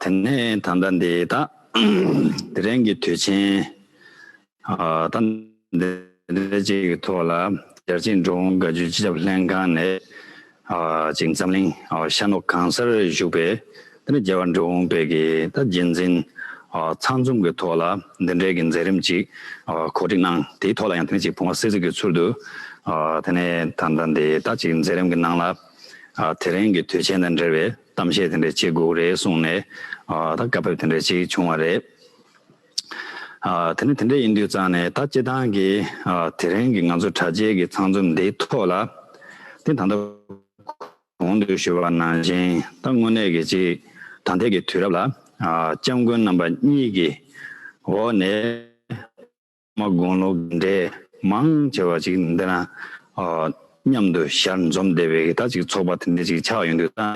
དེ་ནས་ད་ལྟ་འདི་དག་དེ་རིང་གི་དུས་ཆེན་དང་འདི་འདྲ་ཅིག་གི་ཐོག་ལ་ཞར་ཆེན་འགྲོ་འོང་དགའ་སྤྱོད་སྤྱི་ཁྱབ་ལྷན་ཁང་ནས་ཅིག་འཛམ་གླིང་ཤར་ནུབ་གང་སར་བཞུགས་པའི་འདི་འདྲ་རྒྱལ་བ་འགྲོ་འོང་དཔལ་གྱི་རྗེས་འཛིན་ཚང་འཛོམས་ཀྱི་ཐོག་ལ་འདི་འདྲའི་གི་མཛད་རིམ་ཅིག་གོ་སྒྲིག་གནང་དེའི་ཐོག་ལ་ཡང་དེ་ནས་ཅིག་བུང་བ་སེར་གཟིགས་ཀྱི་ཚུལ་དུ་དེ་ནས་ད་ལྟ་འདི་དག་ཅིག་མཛད་རིམ་གྱི་ནང་ལ་དེ་རིང་གི་དུས་ཆེན་དང་འབྲེལ་བའི། གཏམ་བཤད་དེ་འདྲ་བྱེད་དགོས་རེད་གསུངས་ནས་ད་བཀའ་ཕེབས་དེ་འདྲ་ཞིག་བྱུང་བ་རེད། དེ་ནི་དེ་འདྲ་ཡིན་དུས་ཙང་ནས་ད་སྤྱི་བཏང་གི་དེ་རིང་གི་ང་ཚོ་དྲ་རྒྱའི་གི་ཚང་འཛོམས་འདིའི་ཐོག་ལ་དེ་ད་ལྟ་གོང་དུ་ཞུས་པ་ནང་བཞིན་ད་དངོས་གནས་གི་ཅིག་ད་ལྟའི་གི་དུས་རབས་ལ ྋསྐྱབས་མགོན་རྣམ་པ་གཉིས་ཀྱི་འོག་ནས་མ་དགོངས་ལོ་འབྲས་མང་ཆེ་བ་ཅིག་འདི་ན་མཉམ་དུ་ཞལ་འཛོམས་བདེ་བའི་ད་ཅིག་ཚོགས་པ་དེ་འདྲ་ཅིག་ཆགས་ཡོང་དུས་བསམ་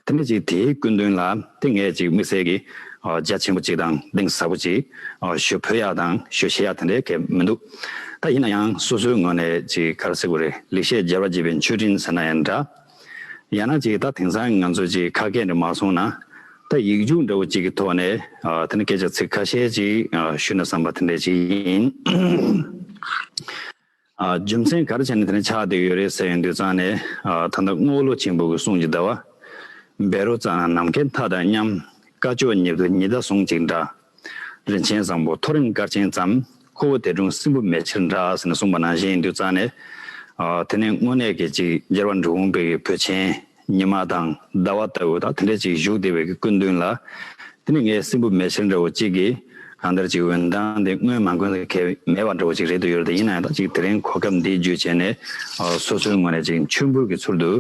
ཏེ། དེ་འདྲ་ཅིག་དེའི་སྐུ་མདུན་ལ་ཏིང་ངེ་ཅིག་དམིགས་བསལ་གྱི་རྒྱ་ཆེན་པོ་ཅིག་དང་གདེང་ཟབ་པོ་ཅིག་ཞུ་ཕོད་ཡག་དང་ཞུ་ཤེས་ཡག་དེ་འདྲའི་གལ་མི་འདུག་ད་ཡིན་ན་ཡང་སོ་སོའི་ངོས་ནས་ཅིག་གར་སེ་གུ་རེ་ལེགས་བཤད་རྒྱལ་བ་དགྱེས་པའི་མཆོད་སྤྲིན་ཟེར་ན་ཡང་འདྲ། ཡང་ན་ཅིག་ད་དེང་སང་ང་ཚོས་ཅིག་ཁ་སྐད་འདི་མ་གསུང་ན། ད་ཡིག་རྒྱུགས་འདྲ་བོ་ཅིག་གི་ཐོག་ནས་དེ་ནི་སྐད་ཆ་ཚིག་ཁ་ཤས་ཅིག་ཞུས་ན་བསམ་པ་དེ་འདྲས་ཅིག་ཡིན། རྒྱུ་མཚན་ག་རེ་བྱས་ནས་དེ་ནི་ཆགས་འདུག་ཡོད་རེད་ཟེར་ཡོང་དུས་ཙང་ནས་ད་ལྟ་རྔོག་ལོ་ཆེན་པོ་གི་གསུང་ཅིག་གདའ་བ། བེ་རོ་ཙང་ནམ་མཁའི་མཐའ་དང་མཉམ། དཀར་ཕྱོགས་ཉིད་དུ་ཉི་ཟླ་ཟུང་ཅིག་འདྲ། རིན་ཆེན་བཟང་པོ་ཐོ་རེངས་སྐར་ཆེན་ཙམ། ཁོ་བོ་དད་སྒྲུང་སྲིན་བུ་མེ་ཕྱིར་འདྲ། ཟེར་ནས་གསུངས་པ་ནང་བཞིན་མདུད་རྩ་ནས། དེ་ནས་དངོས་གནས་ཀྱི་ཅིག་རྒྱལ་བ་འབྲུག་ཧོང་པིར་གྱི་བུ་ཆེན། ཉི་མ་དང་ཟླ་བ་ལྟ་བུ་དག་དེ་འདྲའི་ཅིག་བཞུགས་བདེ་བའི་གི་སྐུ་མདུན་ལ། དེ་ནི་ངའི་སྲིན་བུ་མེ་ཕྱིར་འདྲ་བོ་ཅིག་གིས། གང་ལྟར་ཅིག་འོན་ཏང་དེ་སྔོན་མ་མགོན་ས་ཁེལ་མེད་པ་འདྲ་བོ་ཅིག་རེད་འདུག་ཡོད་རེད་དེ་ཡིན་ན་ཡང་དག་ཅིག་དེ་རིང་གོ་སྐབས་འདི་བརྒྱུད་བྱས་ནས། སོ་སོའི་ངོས་ནས་ཅིག་མཆོད་འབུལ་གྱི་ཚུལ་དུ།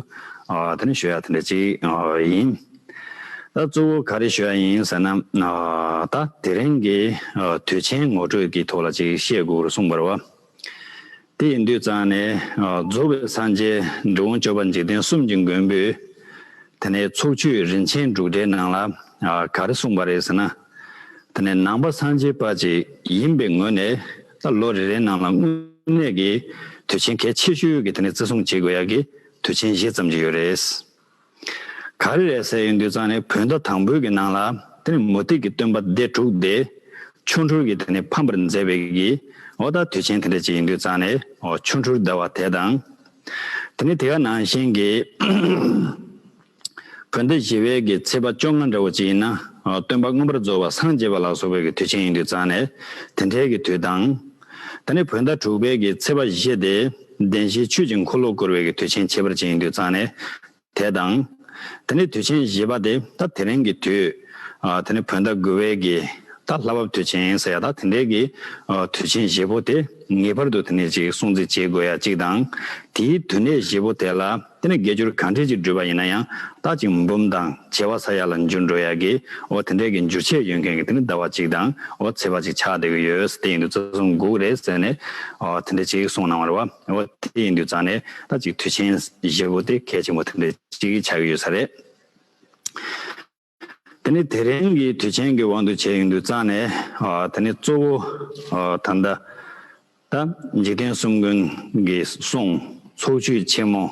དེ་ནི་ཞུ་ཡག་དེ་འདྲ་ཅིག་ཡིན། ད་གཙོ་བོ་ག་རེ་ཞུ་ཡ་ཡིན་ཟེར་ན། ད་དེ་རིང་གི་དུས་ཆེན་ངོ་སྤྲོད་ཀྱི་ཐོག་ལ་ཅིག་བཤད་དགོས་རུ་གསུངས་པར་བ། དེ་ཡི་འདུས་གཙང་ནས་རྫོགས་པའི་སངས་རྒྱས་འགྲོ་འོང་སྤྱོད་པ་འཇིག་རྟེན་གསུམ་གྱི་མགོན་པོས། དེ་ནས་ཚོགས་མཆོད་རིན་ཆེན་འབྲུག་སྒྲའི་ནང་ལ་ག་རེ་གསུངས་པ་རེད་ཟེར་ན། དེ་ནས་ནང་པ་སངས་རྒྱས་པ་ཅིག་ཡིན་པའི་ངོས་ནས་ད་ལོ་རེ་རེའི་ནང་ལ་དངོས་གནས་ཀྱི་དུས་ཆེན་གལ་ཆེ་ཤོས་ཀྱི་དེ་ནས་བརྩི་སྲུང་བྱེད་དགོས་ཡ་གི་དུས་ཆེན་བཞི་ཙམ་ཅིག་ཡོད་རེད། ག་རེ་རེད་ཟེར་ཡོང་དུས་ཙང་ནས་བོད་ཟླ་དང་པོའི་གི་ནང་ལ་དེ་ནི་མུ་སྟེགས་ཀྱི་སྟོན་པ་སྡེ་དྲུག་སྟེ། ཆོ་འཕྲུལ་གྱི་དེ་ནི་ཕམ་པར་མཛད་པའི་གི་ཨོ་རྟགས་དུས་ཆེན་དེ་འདྲ་ཅིག་ཡིན་དུས་ཙང་ནས་ཆོ་འཕྲུལ་སྡེ་བ་དེ་དང། དེ་ནི་དེ་ག་ནང་བཞིན་གི་བོད་ཟླ་བཞི་བའི་གི་ཚེས་པ་བཅོ་ལྔ་འདྲ་བོ་ཅིག་ཡིན་ན་སྟོན་པ་མངོན་པར་རྫོགས་པ་སངས་རྒྱས་པ་ལགས་སོ་བའི་གི་དུས་ཆེན་ཡིན་དུས་ཙང་ནས་དེ་འདྲའི་གི་དུས་དང། ད་ནི་བོད་ཟླ་དྲུག་པའི་གི་ཚེས་པ་བཞི་སྟེ། བདེན་བཞིའི་ཆུ་གཅིག་འཁོར་ལོ་བསྐོར་བའི་གི་དུས་ཆེན་བྱེད་པར་བྱེད་ཡིན་དུས་གཙང་ནས། དེ་དང། ད་ནི་དུས་ཆེན་བཞི་པ་སྟེ་ད་དེ་རིང་གི་དུས། ད་ནི་བོད་ཟླ་དགུ་བའི་གི་ད་ལྷ་བབས་དུས་ཆེན་ཡིན་ཟེར་ཡ་ད་དེ་འདྲའི་གི་དུས་ཆེན་བཞི་པོ་དེ་ངེས་པར་དུ་དེ་ནས་ཅིག་སྲུང་བརྩི་བྱེད་དགོས་ཡ་གཅིག་དང། དེའི་དུས་གནས་བཞི་པོ་དེ་ལ། དེ་ནི་དགེ་སྦྱོར་གང་འདྲའི་ཅིག་བསྒྲུབས་པ་ཡིན་ན་ཡང་རྟག་ཅིག་འབུམ་དང་བྱེ་བ་ས་ཡ་ལ་འགྱུར་འགྲོ་ཡག་གི་འོ་དེ་འདྲའི་གི་འགྱུར་ཆས་ཡོད་མཁན་གི་དེ་ནི་ཟླ་བ་གཅིག་དང་འོ་ཚེས་པ་གཅིག་ཆགས་བསྡད་གི་ཡོད་དེ་ཡིན་དུས་རྩ་གསུམ་འགུགས་རེད་ཟེར་ནས་འོ་དེ་འདྲའི་ཅིག་གསུངས་གནང་བ་རེད་བ་འོ་དེ་ཡིན་དུས་རྩ་ནས་རྟག་ཅིག་དུས་ཆེན་བཞི་པོ་དེ་གལ་ཆེན་པོ་དེ་འདྲའི་ཅིག་ཆགས་གི་ཡོད་ས་རེད། དེ་ནི་དེ་རིང་གི་དུས་ཆེན་གྱི་དབང་དུ་བྱས་ཡོང་དུས་རྩ་ནས་དེ་ནི་གཙོ་བོ་ད་ལྟ་འཇིག་རྟེན་གསུམ་མགོན་གྱི་གསུང་ཚོགས་མཆོད་ཆེན་མོ་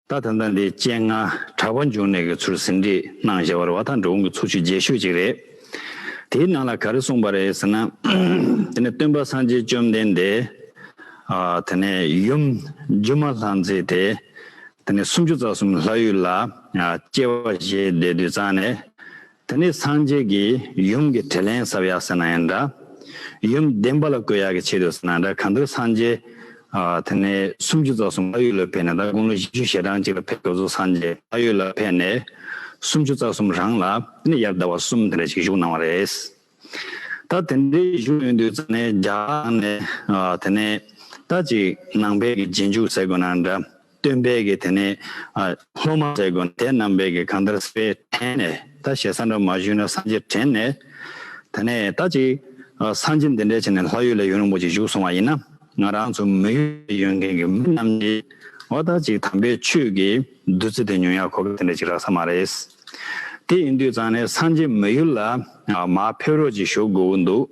ད་ད་ལྟ་འདི་སྤྱན་སྔ་གྲགས་པ་འབྱུང་གནས་ཀྱི་ཚུལ་ཟིན་བྲིས་གནང་བཞེས་བར་བ་དང་འགྲོ་འོང་གི་ཚོགས་མཆོད་རྒྱས་ཤོས་ཅིག་རེད། དེའི་ནང་ལ་ག་རེ་གསུངས་པ་རེད་ཟེར་ན། དེ་ནི་སྟོན་པ་སངས་རྒྱས་བཅོམ་ལྡན་འདས་དེ་ནི་ཡུམ་སྒྱུ་མ་ལྷ་མཛེས་དེ་དེ་ནི་སུམ་ཅུ་རྩ་གསུམ་ལྷ་ཡུལ་ལ། སྐྱེ་བ་བཞེས་བདེ་དུས་གཙང་ནས། དེ་ནས་སངས་རྒྱས་ཀྱིས་ཡུམ་གྱི་དྲིས་ལན་ཟབ་ཡག་ཟེར་ན་ཡང་འདྲ། ཡུམ་བདེན་པ་ལ་བཀོད་ཡག་གི་ཆེད་དུ་ཟེར་ན་འདྲ་གང་ལྟར་སངས་རྒྱས། དེ་ནས་སུམ་ཅུ་རྩ་གསུམ་ལྷ་ཡུལ་ལ་ཕེབས་ནས་ད་དགུང་ལོ་བཞི་བཅུ་ཞེ་གྲངས་གཅིག་ལ་ཕེབས་སྐབས་སུ་སངས་རྒྱས་ལྷ་ཡུལ་ལ་ཕེབས་ནས། སུམ་ཅུ་རྩ་གསུམ་རང་ལ་དེ་ནས་ཡར་ཟླ་བ་གསུམ་དེ་འདྲ་ཞིག་བཞུགས་གནང་བ་རེད། ད་དེ་འདྲའི་ཡིག་འབྲུ་ཡོད་དུས་ཙམ་ནས་རྒྱ་གར་ནང་ནས་དེ་ནས་ད་ཅིག་ནང་བལ་གྱི་རྗེས་འཇུག་ཟེར་དགོས་ན་འདྲ་སྟོན་བལ་གྱི་དེ་ནས་སློབ་མ་ཟེར་དགོས་ན་དེ་རྣམས་བལ་གྱི་གང་ལྟར་སྤེལ་དྲན་ནས་ད་ཞེ་ས་འདྲ་མ་ཞུས་ན་སང་རྗེས་དྲན་ནས་དེ་ནས་ད་ཅིག་སང་རྗེས་འདི་འདྲའི་བྱས་ནས་ལྷ་ཡུལ་ལ་ཡུན་རིང་པོ་ཅིག་བཞུགས་སོང་བ་ཡིན་ན་ང་རང་ཚོ་མི་ཡུལ་ལ་ཡོད་མཁན་གྱི་མི་རྣམས་ཀྱིས་འོ་ད་ཅིག་དམ་པའི་ཆོས་ཀྱི་བདུད་རྩི་དེ་ཉོ་ཡག་གོ་ག་དེ་འདྲ་ཅིག་རག་ས་མ་རེད། དེ་ཡིན་དུས་ཙང་ནས་སངས་རྒྱས་མི་ཡུལ་ལ་མ་ཕེབས་རོགས་གྱིས་ཞུ་དགོས་འདུག་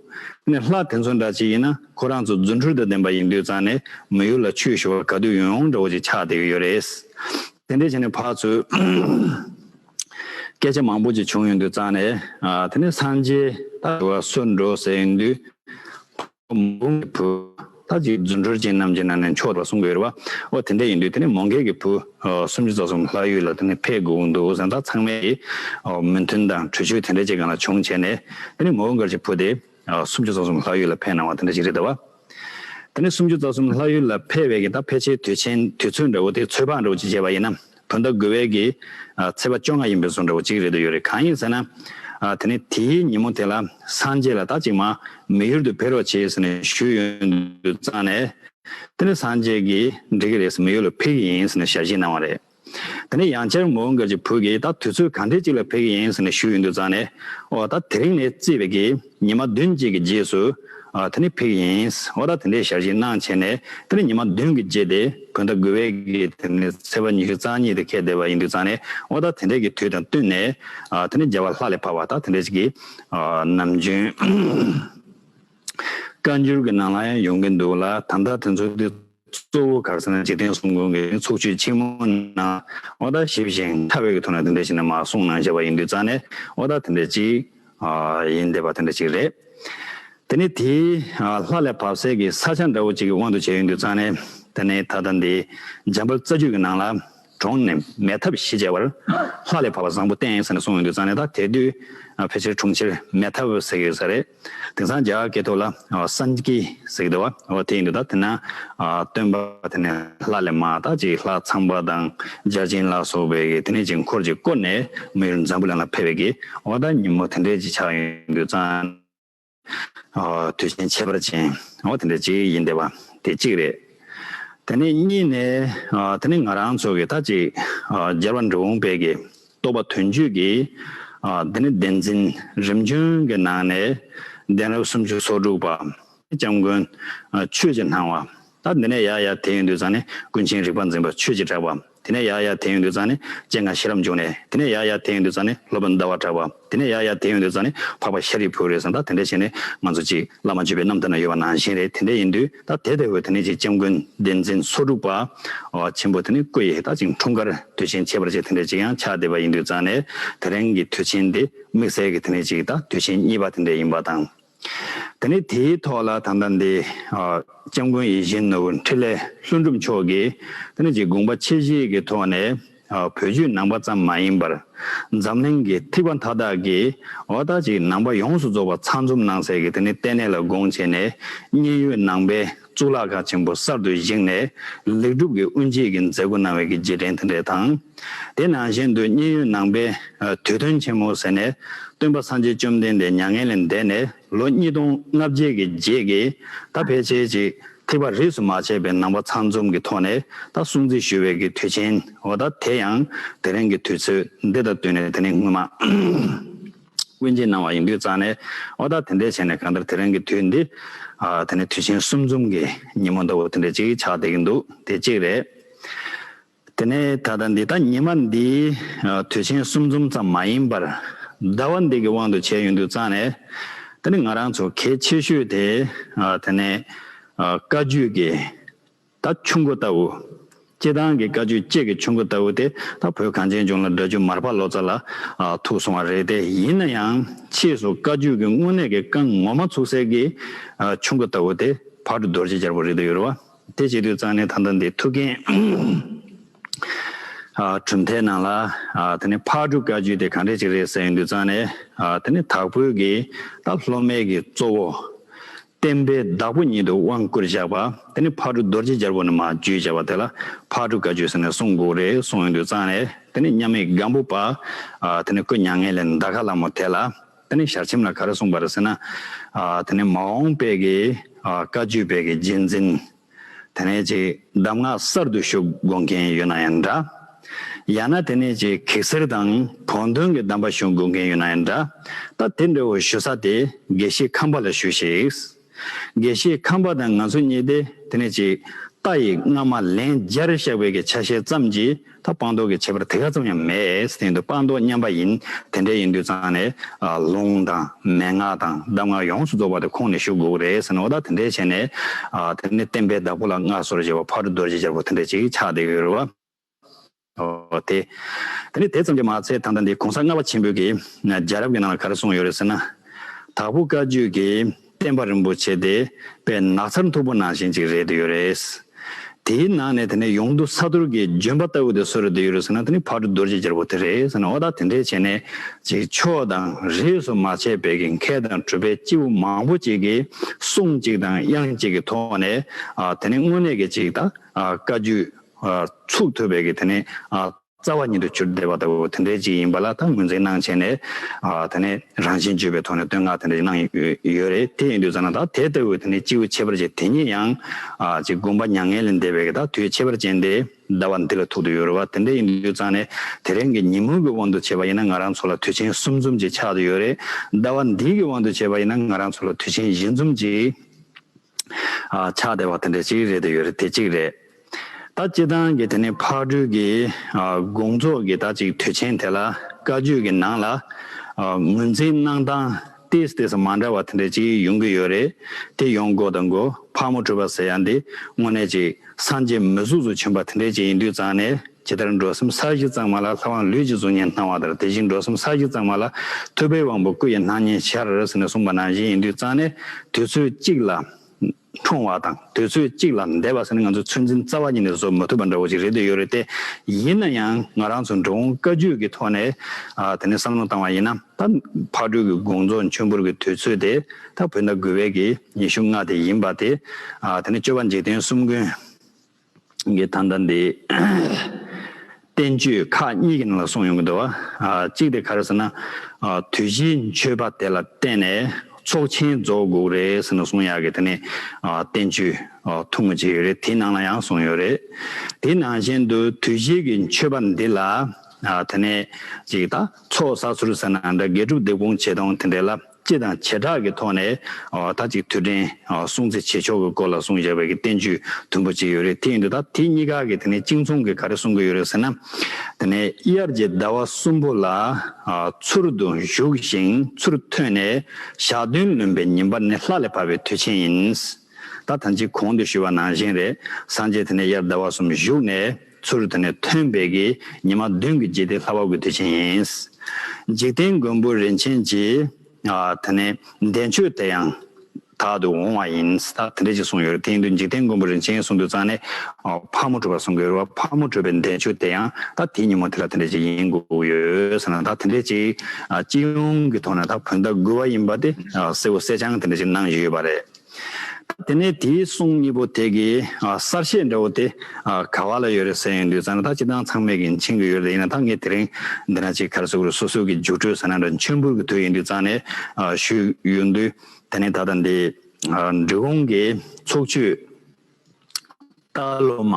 ནས་ལྷ་དེ་ཚོ་འདྲ་གཅིག་ཡིན་ན་ཁོ་རང་ཚོ་རྫུ་འཕྲུལ་དུ་ལྡན་པ་ཡིན་དུས་ཙང་ནས་མི་ཡུལ་ལ་ཆོས་ཞུ་བར་ག་དུས་ཡོང་ཡོང་འདྲ་བོ་ཅིག་ཆགས་བསྡད་ཀྱི་ཡོད་རེད། དེ་འདྲའི་ཆ་ནས་ཕར་ཚུར་སྐད་ཆ་མང་པོ་ཅིག་བྱུང་ཡོང་དུས་ཙང་ནས་དེ་ནས་སངས་རྒྱས་ད་ཞུ་བ་གསོལ་འགྲོ་ཟེར་ཡོང་དུས། མོང་གི་བུ། ད་ཅིག་རྫུ་འཕྲུལ་ཅན་རྣམས་ཀྱི་ནང་ནས་མཆོག་ཏུ་གསུངས་དགོས་རེད་བ། ཨོ་དེ་འདྲ་ཡིན་དུས་དེ་ནས་མོང་གལ་གྱི་བུ། སུམ་ཅུ་རྩ་གསུམ་ལྷ་ཡུལ་ལ་དེ་ནས་ཕེབས་དགོས་འདུག་གཟེངས་རྟགས་ཚང་མའི་མོས་མཐུན་དང་གྲོས་ཆོད་དེ་འདྲ་ཅིག་གང་ལ་བྱུང་བྱས་ནས། དེ་ནས་མོང་གལ་གྱི་བུ་དེ། སུམ་ཅུ་རྩ་གསུམ་ལྷ་ཡུལ་ལ་ཕེབས་གནང་བ་དེ་འདྲ་ཅིག་རེད་བ། དེ་ནས་སུམ་ཅུ་རྩ་གསུམ་ལྷ་ཡུལ་ལ་ཕེབས་བས་ཀྱི་ད་ཕལ་ཆེར་དུས་ཆེན་དུས་ཚོད་འདྲ་བོ་དེ་ཚོད་དཔག་འདྲ་བོ་ཅིག་བྱས་པ་ཡིན་ན། ད་ལྟ་དགོས་བས་ཀྱི། ཚེས་པ་བཅོ་ལྔ་ཡིན་པའི་བཟོ་འདྲ་བོ་གཅིག་རེད་འདུག་ཡོད་རེད་གང་ཡིན་ཟེར་ན། དེ་ནས་དེའི་ཉིན་མོ་དེ་ལ་སངས་རྒྱས་ལ་ད་ཅིག་མ་མི་ཡུལ་དུ་ཕེབས་རོགས་བྱེད་ཟེར་ནས་ཞུས་ཡོད་འདུག་གཙང་ནས། དེ་ནས་སངས་རྒྱས་ཀྱིས་འགྲིག་གི་རེད་ཟེར་མི་ཡུལ་ལ་ཕེབས་ཀྱི་ཡིན་ཟེར་ནས་ཞལ་བཞེས་གནང་བ་རེད། དེ་ནས་ཡང་བསྐྱར་མོའུ་འགལ་གྱི་བུ་ཀྱིས་ད་དུས་ཚོད་གང་འདྲས་ཅིག་ལ་ཕེབས་ཀྱི་ཡིན་ཟེར་ནས་ཞུས་ཡོད་འདུག་གཙང་ནས། འོ་ད་དེ་རིང་ནས་བརྩིས་བས་ཀྱི། ཉི་མ་བདུན་གཅིག་གི་རྗེས་སུ། དེ་ནི་ཕིག་ཡིན། ཧོ་ད་དེ་འདྲའི་ཞར་བཞེས་གནང་བྱས་ནས་དེ་ནི་ཉི་མ་བདུན་གྱི་རྗེས་ཏེ་བོད་ཟླ་དགུ་བའི་གི་དེ་ནི་ཚེས་པ་ཉི་ཤུ་རྩ་གཉིས་དེ་ཁས་བསྡད་པ་ཡིན་དུས་ཚང་ནས་ཨོ་ད་དེ་འདྲའི་གི་དུས་དང་བསྟུན་ནས་དེ་ནི་རྒྱལ་བ་ལྷ་ལས་འཕགས་པ་དང་དེ་འདྲའི་གི་ནམ་རྒྱུན་བཀའ་འགྱུར་གྱི་ནང་ལ་ཡང་ཡོང་གི་འདུག་ལ་ད་ལྟ་དེ་ཚོ་དེ། གཙོ་བོ་གགས་སེང་འཇིག་རྟེན་གསུམ་ཀུན་གྱི་ཚོགས་མཆོད་ཆེན་མོ་ནང་ཨོ་ད་ཞིབ་ཅིང་མཐའ་བས་ཀྱི་ཐོག་ནས་དེ་འདྲ་ཞིག་ནི་མ་གསུངས་ན་བྱ་བ་ཡིན་དུས་རྩ་ནས་ཨོ་ད་དེ་འདྲ་ཅིག་ཡིན་འདས་པ་དེ་འདྲ་ཅིག་རེད། དེ་ནི་དེའི་ལྷ་ལས་བབས་གསལ་གྱི་ས་ཆ་འདྲ་བོ་ཅིག་གི་དབང་དུ་བྱས་ཡོད་འདུག་རྩ་ནས་དེ་ནི་ད་ལྟ་འདི་འཇམ་དཔལ་རྩ་རྒྱུད་ཀྱི་ནང་ལ། གྲོང་ནས་མལ་ཐབས་བཞི་བཅལ་བར། ལྷ་ལས་བབས་པ་བཟང་པོ་བསྟན་ཟེར་ནས་སོང་ཡོང་དུས་གཙང་ལས་དང་དེ་དུས་ཕལ་ཆེར་གྲོང་ཁྱེར་མལ་ཐབས་ཟེར་གྱི་ཡོད་ས་རེད། དེང་སང་རྒྱ་གར་སྐད་ཐོག་ལ་སན་ཀི་ཟེར་གྱི་འདུག་བ་དེ་ཡིན་འདུག་ད་དེ་ན་སྟོན་པ་དེ་ནས་ལྷ་ལས་མ་དག་ཅིག་ལྷ་ཚངས་པ་དང་འཇའ་ཆེན་ལ་སོགས་པའི་གིས་དེ་ནས་ཅིག་འཁོར་ཅིག་བསྐོར་ནས་མི་ཡུལ་འཛམ་བུ་གླིང་ལ་ཕེབས་པའི་གིས་འོ་ད་ཉིན་མོ་དེ་འདྲའི་ཅིག་ཆགས་ཡོང་དུས་གཙང། དུས་བཞིན་ཆད་པར་བྱིན། འོ་དེ་འདྲའི་གཅིག་ཡིན་བདེ་བ་དེ་གཅིག་རེད། དེ་ནས་གཉིས་ནས་དེ་ནི་ང་རང་ཚོ་གི་ད་ཅིག་རྒྱལ་བ་འབྲི་འོང་དཔལ་གྱི་རྟོགས་པ་དོན་བརྒྱུད་ཀྱི་དེ་ནི་བདེན་འཛིན་རིམ་བྱོན་གྱི་ནང་ནས་གདན་རབས་སུམ་ཅུ་སོ་དྲུག་པ་སྐྱབས་མགོན་ཆོས་རྗེ་སྣང་བ། ད་འདི་ནས་ཡ་ཡ་དེ་ཡོན་དུ་བརྫངས་ནས་ཀུན་མཁྱེན་རིག་པ་འཛིན་པ་ཆོས་ཀྱིས་གྲགས་པ། དེ་ནས་ཡ་ཡ་དེ་ཡོན་དུ་བརྫངས་ནས་སྤྱན་སྔར་ཤེས་རབ་འབྱུང་ནས་དེ་ནས་ཡ་ཡ་དེ་ཡོན་དུ་བརྫངས་ནས་སློབ་དཔོན་ཟླ་བར་གྲགས་པ། དེ་ནས་ཡ་ཡ་དེ་ཡོན་དུ་བརྫངས་ནས་འཕགས་པ་ཤཱ་རིའི་བུ་རེད་བསམ་ད་དེ་འདྲ་བྱས་ནས་ང་ཚོ་ཅིག་བླ་མ་བརྗོད་པའི་རྣམ་ཐར་ན་ཡོད་པ་ནང་བཞིན་རེད་དེ་འདྲ་ཡིན་དུས་ད་དེ་དེ་བས་དེ་ནས་ཅིག་སྐྱབས་མགོན་བདེན་འཛིན་སོགས་དྲུག་པ། ཆེན་པོ་དེ་ནས་སྐུ་ཡིས་ད་ཅིག་འཁྲུངས་སྐར་དུས་ཆེན་བྱེད་པར་བྱས་དེ་འདྲ་ཅིག་ཡང་ཕྱག་འདེབས་པ་ཡིན་དུས་བརྫངས་ནས་དེ་རིང་གི་དུས་ཆེན་འདི་དམིགས་བསལ་གྱི་དེ་ནས་ཅིག་ད་དུས་ཆེན་གཉིས་པ་དེ་འདྲ་ཡིན་པ་དང། དེ་ནས་དེའི་ཐོག་ལ་ད་ལྟ་འདི། སྐྱབས་མགོན་ཡིད་བཞིན་ནོར་བུ་འཕྲིན་ལས་ལྷུན་གྲུབ་མཆོག་གིས་ད་ནི་ཅིག་དགོངས་པ་ཆེ་བཞེས་ཀྱི་ཐོག་ནས། བོད་བརྒྱུད་ནང་པ་ཙམ་མ་ཡིན་པར། འཛམ་གླིང་གི་ཐིགས་པ་མཐའ་དག་གིས་འོ་ད་ཅིག་ནང་པ་ཡོངས་སུ་རྫོགས་པ་ཚང་འཛོམས་གནང་ཟེར་གི་དེ་ནི་ལྟེ་གནས་ལ་དགོངས་བྱས་ནས་མཉན་ཡོད་ནང་པའི་གཙུག་ལག་ཁང་ཆེན་པོ་གསར་དུ་བཞེངས་ནས་ལེགས་གྲུབ་ཀྱི་དབུ་འབྱེད་ཀྱི་མཛད་སྒོ་གནང་བའི་གི་རྗེས་དྲན་དེ་འབྲེལ་དང། དེ་ནང་བཞིན་དུ་མཉན་ཡོད་ནང་པའི་དུས་སྟོན་ཆེན་མོ་ཟེར་ནས་སྟོན་པ་སངས་རྒྱས་བཅོམ་ལྡན་འདས་མྱ་ངན་ལས་འདས་ནས་ལོ་གཉིས་སྟོང་ལྔ་བརྒྱད་ཀྱི་རྗེས་ཀྱི་ད་ཕལ་ཆེར་ཅིག་ཐིགས་པ་རིས་སུ་མ་ཆད་པའི་ནང་པ་ཚང་འཛོམས་ཀྱི་ཐོག་ནས་ད་སྲུང་བརྩི་ཞུ་བའི་གི་དུས་ཆེན་འོ་ད་དེ་ཡང་དེ་རིང་གི་དུས་ཚོད་འདི་དང་བསྟུན་ནས་དེ་ནི་སྔོན་མ། དབུས་འབྱེད་གནང་བ་ཡིན་དུས་རྩ་ནས་ཨོ་ད་དེ་འདྲས་བྱས་ནས་གང་ལྟར་དེ་རིང་གི་དུས་འདི། དེ་ནི་དུས་ཆེན་གསུམ་འཛོམས་ཀྱི་ཉིན་མོ་ལྟ་བུ་དེ་འདྲས་ཅིག་ཆགས་བསྡད་ཀྱི་འདུག་དེ་གཅིག་རེད། དེ་ནས་ད་ལྟ་འདི་ལྟ་ཉི་མ་འདི། དུས་ཆེན་གསུམ་འཛོམས་ཙམ་མ་ཡིན་པར། ཟླ་བ་འདི་གི་དབང་དུ་བྱས་ཡོད་འདུག་རྩ་ནས། དེ་ནི་ང་རང་ཚོ་གལ་ཆེ་ཤོས་དེ། དེ་ནས། བཀའ་བརྒྱུད་ཀྱི། ད་ཆུང་གོ་ལྟ་བུ། སྐྱེ་ཐང་གི་དཀའ་སྤྱོད་ཅེས་ཀྱི་ཆུང་གོ་ལྟ་བུ་དེ་ད་བོད་གངས་ཅན་ལྗོངས་ལ་སྦྲ་ཆུ་མར་ཕར་ལོག་ཚ་ལ་ཐུག་སོང་བ་རེད་དེ་ཡིན་ན་ཡང་ཕྱིས་སུ་བཀའ་བརྒྱུད་ཀྱི་དངོས་གནས་ཀྱི་བཀའ་ངོ་མ་ཚུགས་གསལ་གྱི་ཆུང་གོ་ལྟ་བུ་དེ་བར་དུ་རྡོ་རྗེ་རྒྱལ་པོ་རེད་འདུག་ཡོད་རེད་བ། དེ་བྱེད་དུས་གཙང་གནས་ཐང་ཐང་འདི་ཐུགས་འགན་གྲུབ་མཐའི་ནང་ལ་དེ་ནས་ཕག་གྲུ་བཀའ་བརྒྱུད་དེ་གང་འདྲས་ཅིག་རེད་ཟེར་ཡོང་དུས་གཙང་གནས་དེ་ནས་དྭགས་བོད་ཀྱི་ད་སློབ་མའི་གི་གཙོ་བོ། བསྟན་པའི་བདག་པོ་ཉིད་དུ་དབང་བསྐུར་བཞག་པ་དེ་ནི་ཕར་གྲུ་རྡོ་རྗེ་སྦྱར་བུ་ནི་མ་བརྒྱུད་བྱ་བ་དེ་ལ་ཕར་གྲུ་ག་བརྒྱུད་ཟེར་ནས་གསུང་འགུགས་རེ་གསུང་ཡོན་དུ་བརྩམས་ནས་དེ་ནས་མཉམ་མེད་སྒམ་པོ་པདྨོ་དེ་ནས་སྐུ་མྱ་ངན་ལས་འདའ་མཁའ་ལ་མོ་དེ་ལ་དེ་ནས་ཞལ་ཆེམས་ལ་ག་རེ་གསུངས་པ་རེ་ཟེར་ན། དེ་ནས་མ་འོངས་དཔལ་གྱི་བཀའ་བརྒྱུད་དཔལ་གྱི་རྗེས་འཛིན། དེ་ནས་ཅིག་གདམས་ངག་གསར་དུ་ཞུ་དགོས་མཁན་ཡོད་ན་ཡང་འདྲ། ཡང་ན་དེ་ནས་ཅིག་གེགས་སེལ་དང་བོགས་འདོན་གྱི་གདམས་པ་ཞུ་དགོས་མཁན་ཡོད་ན་ཡང་འདྲ། ད་དེ་འདྲ་བོ་ཞུ་ས་དེ་དགེ་བཤེས་ཁམས་པ་ལ་ཞུ་ཞིག། དགེ་བཤེས་ཁམས་པ་དང་ང་ཚོ་གཉིས་དེ་དེ་ནས་ཅིག་རྟ་ཡི་རྔ་མ་ལན་བརྒྱར་བཤགས་པའི་གྱི་ཆ་ཤས་ཙམ་གྱིས་ད་དཔང་རྟོགས་ཀྱི་ཁྱད་པར་དེ་ག་ཙམ་ཡང་མེད་དེ་འདུག་དཔང་རྟོགས་མཉམ་པ་ཡིན་དེ་འདྲ་ཡིན་དུས་ཚང་ནས་ལུང་དང་མན་ངག་དང་གདམས་ངག་ཡོངས་སུ་རྫོགས་པ་དེ་ཁོང་ནས་ཞུ་དགོས་རེད་ཟེར་ནོ་ད་དེ་འདྲས་བྱས་ནས་དེ་ནས་བསྟན་པའི་བདག་པོ་ལ་མངའ་ཟོར་བཞེས་པ་ཕག་གྲུ་རྡོ་རྗེ་རྒྱལ་པོ་དེ་འདྲས་ཅིག་ཆགས་བསྡད་ཡོད་རེད་བ། འོ་དེ། དེ་ནས་དེ་ཙམ་གྱིས་མ་ཚད་ད་ལྟ་འདི་གོང་ས་ལྔ་པ་ཆེན་པོས་ཀྱི་རྒྱལ་རབས་ཀྱི་ནང་ལ་ག་རེ་གསུངས་ཡོད་རེད་ཟེར་ན། དྭགས་པོ་བཀའ་བརྒྱུད་ཀྱི། བསྟན་པ་རིན་པོ་ཆེ་དེ་པའི་ནགས་ཚལ་མཐུག་པོ་ནང་བཞིན་ཅིག་རེད་དུ་ཡོད་རེད། དེའི་ནང་ནས་དེ་ནས་ཡོངས་འདུ་ཚ་དུར་གྱི་ལྗོན་པ་ལྟ་བུ་དེ་གསོལ་རེད་དུ་ཡོད་རེད་ཟེར་ན་དེ་ནི་བར་དུ་རྡོ་རྗེ་རྒྱལ་པོ་དེ་རེད་ཟེར་ན་འོ་ད་དེ་འདྲས་བྱས་ནས་ཅིག་ཕྱོགས་དང་རིས་སུ་མ་ཆད་པའི་གི་མཁས་དང་གྲུབ་པའི་སྐྱེས་བུ་མང་པོ་ཅིག་གིས་གསུང་གཅིག་དང་དབྱངས་གཅིག་གི་ཐོག་ནས་དེ་ནི་དངོས་གནས་ཀྱི་ཅིག་ད་བཀའ་བརྒྱུད་ཚུགས་ཐུབ་པའི་གི་དེ་ནི་རྩ་བ་ཉིད་དུ་གྱུར་བདེ་བ་ལྟ་བུ་དེ་འདྲའི་ཅིག་ཡིན་པ་ལ་དང་ངོས་འཛིན་གནང་བྱས་ནས། དེ་ནས་རང་བཞིན་བརྗོད་པའི་ཐོག་ནས་བསྟོད་བསྔགས་དེ་འདྲ་གནང་ཡོད་རེད་དེ་ཡིན་དུས་ཙཱ་ན་དག་དེ་ལྟ་བུའི་དེ་ནས་སྤྱི་བོའི་ཁྱད་པར་ཅན་དེ་ཉིད་ཡང། ཅིག་བསྒོམ་པ་མྱ་ངན་ལས་འདས་པའི་དག་དུས་ཁྱད་པར་ཅན་དེ་ཟླ་བ་འདི་ལ་ཐུག་ཏུ་ཡོད་རེད་བ་དེ་འདྲ་ཡིན་དུས་ཙཱ་ན་དེ་རིང་གི་ཉིན་མོ་གི་དབང་དུ་བྱས་པ་ཡིན་ན་ང་རང་ཚོ་ལ་དུས་ཆེན་གསུམ་འཛོམས་ཅིག་ཆགས་ཏུ་ཡོད་རེད། ཟླ་བ་འདིའི་གི་དབང་དུ་བྱས་པ་ཡིན་ན་ང་རང་ཚོ་ལ་དུས་ཆེན་བཞི་འཛོམས་ཅིག་ཆགས་བདེ་བ་དེ་འདྲ་གཅིག་རེད་དེ་ཡོད་རེད་དེ་གཅིག་རེད། ད་སྤྱི་བཏང་གི་དེ་ནི་ཕག་གྲུའི་གི་དགོང་ཚོགས་ཀྱི་ད་ཅིག་དུས་ཆེན་དེ་ལ་བཀའ་བརྒྱུད་ཀྱི་ནང་ལ་ངོས་འཛིན་གནང་སྟང་ཏིས་ཏིས་མ་འདྲ་བ་དེ་འདྲ་གཅིག་ཡོང་གི་ཡོད་རེད་དེ་ཡོང་དགོས་དང་དགོས་ཕག་མོ་གྲུ་པ་ཟེར་ཡ་འདི་དངོས་གནས་གཅིག་སངས་རྒྱས་མོས་གཟུགས་སུ་བྱོན་པ་དེ་འདྲ་གཅིག་ཡིན་དུས་ཙང་ནས། ཇི་ལྟར་འགྲོ་སེམས་ས་གཞི་གཙང་མ་ལ་ལྷ་དབང་ལུས་ཀྱི་གཟུགས་བརྙན་སྣང་བ་ལྟར་དེ་བཞིན་འགྲོ་སེམས་ས་གཞི་གཙང་མ་ལ་ཐུབ་པའི་དབང་པོ་སྐུ་ཡི་སྣང་བརྙན་ཤར་རེ་ཟེར་ནས་གསུངས་པ་ནང་བཞིན་ཡིན་དུས་གཙང་ནས་དུས་ཚོད་གཅིག་ལ་འཁྲུངས་བ་དང་དུས་ཚོད་གཅིག་ལ་འདས་པ་ཟེར་ནས་ང་ཚོས་ཚོད་འཛིན་རྩ་བ་ཉིད་ནས་བཟོ་མི་ཐུབ་པ་འདྲ་བོ་ཞིག་རེད་འདོད་ཡོད་རེད་དེ། ཡིན་ན་ཡང་ང་རང་ཚོས་འགྲོ་འོང་བཀའ་བརྒྱུད་ཀྱི་ཐོག་ནས་དེ་ནས་བསམ་བློ་བཏང་བ་ཡིན་ན་ད་ཕག་གྲུའི་གི་དགོངས་རྫོགས་མཆོད་འབུལ་གྱི་དུས་ཚོད་དེ་ད་བོད་ཟླ་དགུ་བའི་གི་ཉི་ཤུ་ལྔ་དེ་ཡིན་པ་དེ། དེ་ནས་སྤྱོད་པ་འཇིག་རྟེན་གསུམ་ཀུན། གི་ད་ལྟ་འདི་བསྟན་བཅོས་ཁག་གཉིས་ཀྱི་ནང་ལ་གསུངས་ཡོང་གི་འདུག་བ། གཅིག་དེ་ག་རེ་ཟེར་ན། དུས་བཞིའི་མཆོད་པ་དེ་ལ་བརྟེན་ནས་ཚོགས་ཆེན་རྫོགས་དགོས་རེད་ཟེར་ནས་གསུངས་ཡག་གི་དེ་ནས་བསྟན་བཅོས་ཐུང་ངུ་བྱས་ཡོད་རེད་དེའི་ནང་ལ་ཡང་གསུངས་ཡོད་རེད། དེའི་ནང་བཞིན་དུ་དུས་བཞིའི་གི་མཆོད་པ་འདི་ལ་དེ་ནས་ཅིག་ད་ཚོགས་བསགས་ཚུལ་ཟེར་ན་འདྲ་དགེ་སྒྲུབ་སྡེབ་སྐོང་བྱེད་སྟངས་དེ་འདྲས་ལ། སྤྱི་དང་བྱེ་བྲག་གི་ཐོག་ནས་ད་ཅིག་དུས་དྲན་སྲུང་གཙི་བྱེད་ཕྱོགས་ཀྱི་སྐོར་ལ་གསུང་བཞག་པའི་གི་བསྟན་བཅོས་དུམ་བུ་གཅིག་ཡོད་རེད་དེ་ཡིན་དུས་ད་དེ་གཉིས་ཀ་གི་དེ་ནས་གཅིག་མཚུངས་ཀྱི་ག་རེ་གསུང་གི་ཡོད་རེད་ཟེར་ན། དེ་ནས་དབྱར་གྱི་ཟླ་བ་གསུམ་པོ་ལ་ཚུར་དུ་བཞུགས་ཤིང་ཚུར་ཐོན་ནས་ཞག་བདུན་ལོན་པའི་ཉིན་པར་ནི་ལྷ་ལས་བབས་པའི་དུས་ཆེན་ཡིན། ད་ཐམས་ཅད་གོང་དུ་ཞུས་པ་ནང་བཞིན་རེད། སངས་རྒྱས་དེ་ནས་དབྱར་ཟླ་བ་གསུམ་བཞུགས་ནས་ཚུར་རུ་དེ་ནས་ཐོན་པའི་གི་ཉི་མ་བདུན་གྱི་རྗེས་དེ་ལྷ་བ་དགུའི་དུས་ཆེན་ཡིན། འཇིག་རྟེན་མགོན་པོ་རིན་ཆེན་གྱིས། དེ་ནས་འདས་མཆོད་དེ་ཡང་དག་ཏུ་འོང་བ་ཡིན། ད་དེ་འདྲ་ཅིག་གསུངས་ཡོད་རེད། དེ་ཡིན་དུས་འཇིག་རྟེན་མགོན་པོ་རིན་ཆེན་གསུང་དུས་ཙང་ནས། ཕག་མོ་བྲོས་པར་གསུང་གི་ཡོད་རེད་བ། ཕག་མོ་བྲོས་པའི་འདས་མཆོད་དེ་ཡང་ད་དེའི་ཉིན་མོ་དེ་ལ་དེ་འདྲ་ཅིག་ཡིན་དགོས་ཀྱི་ཡོད་ཟེར་ན་ད་དེ་འདྲ་ཅིག་སྤྱི་ཡོངས་ཀྱི་ཐོག་ནས་ད་བོད་ཟླ་དགུ་བ་ཡིན་པ་དེ་གསལ་བོ་གསལ་རྐྱང་དེ་འདྲ་ཅིག་གནང་བཞིན་ཡོད་པ་རེད། དེ་ནས་དེའི་གསུང་གཉིས་པོ་དེ་གི་གསར་བཤད་འདྲ་བོ་དེ་ག་བ་ལ་ཡོད་རེད་ཟེར་ཡོང་དུས་ཟ་ན་ད་ཅི་སྟངས་ཚང་མེད་གིན་ཕྱིན་གི་ཡོད་རེད་ཡིན་ན་ད་ངས་དེ་རིང་འདི་ན་ཅིག་གར་སོ་གུར་སོ་སོ་གི་རྒྱུགས་སྤྲོད་ཟ་ན་འདྲ་མཆོད་འབུལ་གི་དུས་ཡིན་དུས་ཙང་ནས་ཞུས་ཡོང་དུས་དེ་ནས་ད་ལྟ་འདི་འབྲི་གུང་གི་ཚོགས་ཆུས། སྟག་ལོ་མ།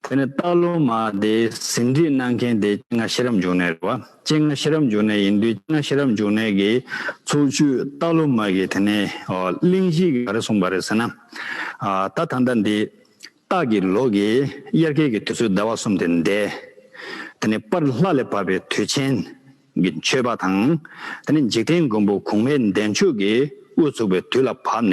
དེ་ནི་སྟག་ལོ་མ་དེ་ཟིན་བྲིས་གནང་མཁན་དེ་སྤྱན་སྔ་ཤེས་རབ་འབྱུང་གནས་རེད་བ། སྤྱན་སྔ་ཤེས་རབ་འབྱུང་གནས་ཡིན་དུས་སྤྱན་སྔ་ཤེས་རབ་འབྱུང་གནས་ཀྱི་ཚོགས་ཆུས་སྟག་ལོ་མ་གིས་དེ་ནས་གླིང་བཞི་གི་ག་རེ་གསུངས་པ་རེད་ཟེར་ན། ད་ད་ལྟ་འདི་སྟག་གི་ལོ་གི་དབྱར་ཁའི་གི་དུས་ཚོད་ཟླ་བ་གསུམ་དེ་འདས། དེ་ནས་པར་ལྷ་ལས་བབས་པའི་དུས་ཆེན་གི་མཆོད་པ་དང། དེ་ནས་འཇིག་རྟེན་མགོན་པོ་གུང་མོའི་མདའི་མཆོག་གིས་དབུ་ཚུགས་པའི་དུས་ལ་བབ་ནས།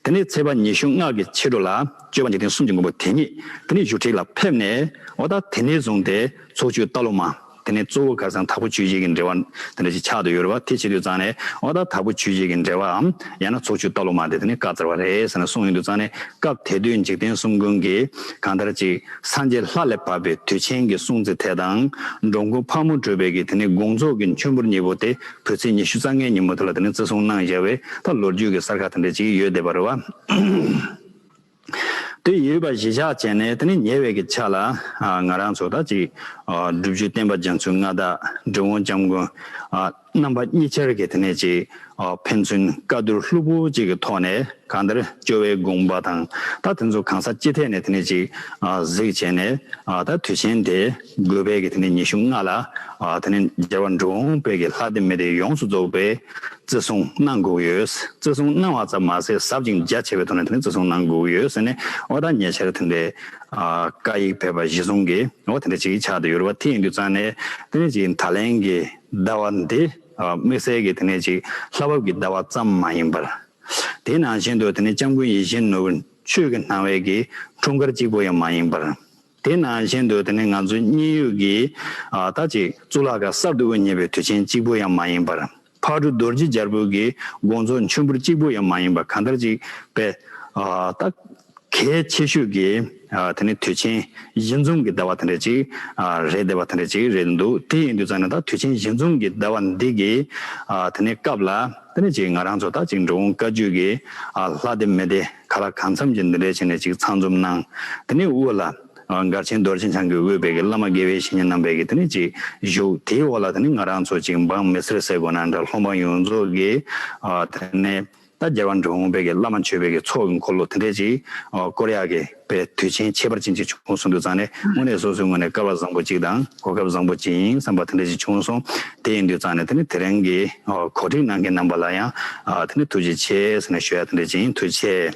དེ་ནས་ཚེས་པ་ཉི་ཤུ་སྔགས་ཀྱི་ཕྱི་དྲོ་ལ་སྤྱོད་པ་འཇིག་རྟེན་གསུམ་གྱི་མགོན་པོ་དེ་ཉིད་དེ་ནས་བཞུགས་ཁྲི་ལ་ཕེབས་ནས་འོ་ད་དེ་ནས་བཟུང་སྟེ་ཚོགས་མཆོད་རྟ་ལོ་མ། དེ་ནས་གཙོ་བོ་གར་ཚང་དྭགས་པོ་ཆོས་རྗེ་ཀྱི་འགྲེལ་བ། དེ་ནས་ཕྱག་ཏུ་ཡོལ་བ་དེ་ཕྱི་དུས་བརྩམས་ནས་འོ་ད་དྭགས་པོ་ཆོས་རྗེ་ཀྱི་འགྲེལ་བའམ་ཡང་ན་ཚོགས་མཆོད་རྟ་ལོ་མ་དེ་དེ་ནས་བཀའ་སྩལ་བ་རེད་ཟེར་ནས་གསུངས་ཡོད་འདུག་བརྩམས་ནས་སྐབས་དེ་དུས་འཇིག་རྟེན་གསུམ་མགོན་གྱིས་གང་ལྟར་ཅིག། སངས་རྒྱས་ལྷ་ལས་བབས་པའི་དུས་ཆེན་གྱི་སྲུང་བརྩི་དེ་དང་འགྲོ་མགོན་ཕག་མོ་སྤྲུལ་བའི་གིས་དེ་ནི་དགོངས་རྫོགས་ཀྱི་མཆོད་འབུལ་གཉིས་པོ་སྟེ་བོད་ཚེས་ཉི་ཤུ་རྩ་ལྔའི་ཉིན་མོ་དེ་ལ་དེ་ནི་བརྩི་སྲུང་གནང་བཞེས་བས་ད་ལོ་རྒྱུས་ཀྱི་གསར་ཁ་དེ་འདྲའི་ཅིག་ཡོད་བསྡད་པ་རེད་བ། དེ་ཡོད་པ་གཞི་བཞག་བྱས་ནས་དེ་ནི་ཉེ་བའི་གི་ཆ་ལ་ང་རང་ཚོ་དང་ཅིག་སྒྲུབ་བརྒྱུད་བསྟན་པ་རྒྱ་མཚོའི་མངའ་བདག་འབྲི་བོང་སྐྱབས་མགོན། རྣམ་པ་གཉིས་ཆར་གྱི་དེ་ནས་ཅིག། ཕན་ཚུན་བཀའ་བསྡུར་ལྷུག་པོ་གཅིག་གི་ཐོག་ནས་གང་ལྟར་བཅོལ་བའི་དགོངས་པ་དང་ད་དེ་ཚོ་གང་ས་ཅི་ཐད་ནས་དེ་ནས་ཅིག། གཟིགས་བྱས་ནས་ད་དུས་ཆེན་དེ་དགོས་པའི་གི་དེ་ནས་ཉི་ཤུ་ལྔ་ལ་དེ་ནས་རྒྱལ་བ་འགྲོ་འོང་དཔལ་གྱི་ལྷ་སྡེ་མི་སྡེ་ཡོངས་སུ་རྫོགས་པའི་བརྩི་སྲུང་གནང་དགོས་ཀྱི་ཡོད། བརྩི་སྲུང་གནང་བ་ཙམ་མ་ཟད་ཟབ་ཅིང་རྒྱ་ཆེ་བའི་ཐོག་ནས་དེ་ནས་བརྩི་སྲུང་གནང་དགོས་ཀྱི་ཡོད་ཟེར་ནས་འོ་ད་ཉེ་ཆར་དེ་འདྲའི་བཀའ་ཡིག་ཕེབས་པ་གཞི་བཟུང་གིས་འོ་དེ་འདྲ་ཅིག་ཆགས་འདི་ཡོད་རེད་བ་དེ་ཡིན་དུས་ཙང་ནས་དེ་ནས་ཅིག་ད་ལན་གྱི་ཟླ་བ་འདི་དམིགས་བསལ་གྱི་དེ་ནས་ཅིག་ལྷ་བབས་ཀྱི་ཟླ་བ་ཙམ་མ་ཡིན་པར། དེ་ནང་བཞིན་དུ་དེ་ནི་སྐྱབས་མགོན་ཡེ་ཤེས་ནོར་བུ་ཆོས་ཀྱི་སྣང་བས་ཀྱི་འཁྲུངས་སྐར་གཅིག་པོ་ཡང་མ་ཡིན་པར། དེ་ནང་བཞིན་དུ་དེ་ནི་ང་ཚོའི་སྙིང་ཡུལ་གྱི་ད་ཅིག་གཙུག་ལག་ཁང་གསར་དུ་དབུ་བརྙེས་པའི་དུས་ཆེན་གཅིག་པོ་ཡང་མ་ཡིན་པར། ཕག་གྲུ་རྡོ་རྗེ་འཇར་པུ་གྱི་དགོངས་རྫོགས་མཆོད་འབུལ་གཅིག་པོ་ཡང་མ་ཡིན་པར་གང་ལྟར་ཅིག་པས། གལ་ཆེ་ཤོས་ཀྱི་དེ་ནི་དུས་ཆེན་བཞི་འཛོམས་ཀྱི་ཟླ་བ་དེ་འདྲ་ཅིག་རེད་ཟླ་བ་དེ་འདྲ་ཅིག་རེད་འདུག་དེ་ཡིན་དུས་ཙང་ནི་ད་དུས་ཆེན་བཞི་འཛོམས་ཀྱི་ཟླ་བ་འདི་གི་དེ་ནི་སྐབས་ལ་དེ་འདྲ་ཅིག་ང་རང་ཚོ་ད་ཅིག་འགྲོ་འོང་དཀའ་བཅུ་གི་ལྷ་སྡེ་མི་སྡེ་ག་ལ་གང་འཚམས་ཀྱིས་འདི་འདྲའི་བྱས་ནས་ཅིག་ཚང་འཛོམས་གནང་དེ་ནི་དབུ་ལ་མགར་ཆེན་རྡོར་ཆེན་ཆང་གི་དབུས་བལ་གྱི་བླ་མ་དགེ་བའི་བཤེས་གཉེན་རྣམ་པས་ཀྱིས་དེ་ནི་ཅིག་བཞུགས་དེའི་འོག་ལ་དེ་ནི་ང་རང་ཚོ་ཅིག་འབངས་མི་སེར་ཟེར་དགོས་ན་འདྲ་ལྷོ་འབངས་ཡོངས་རྫོགས་ཀྱིས་དེ་ནི། ད་རྒྱལ་བ་འབྲོང་དཔལ་གྱི་བླ་མ་མཆོད་དཔལ་གྱི་ཚོགས་ཀྱི་འཁོར་ལོ་དེ་འདྲས་ཅིག་བསྐོར་ཡག་གི་པའི་དུས་ཆེན་ཁྱད་པར་ཅན་ཅིག་བྱུང་སོང་འདུག་ཙང་ནས་དངོས་གནས་སོ་སོའི་ངོས་ནས་སྐལ་བ་བཟང་པོ་ཅིག་དང་གོ་སྐབས་བཟང་པོ་ཅིག་ཡིན་བསམ་པ་དེ་འདྲས་ཅིག་བྱུང་སོང་དེ་ཡིན་དུས་ཙང་ནས་དེ་ནས་དེ་རིང་གི་གོ་སྒྲིག་གནང་མཁན་རྣམ་པ་ལ་ཡང་དེ་ནས་ཐུགས་རྗེ་ཆེ་ཟེར་ནས་ཞུ་ཡག་དེ་འདྲས་ཅིག་ཡིན་ཐུགས་ཆེ།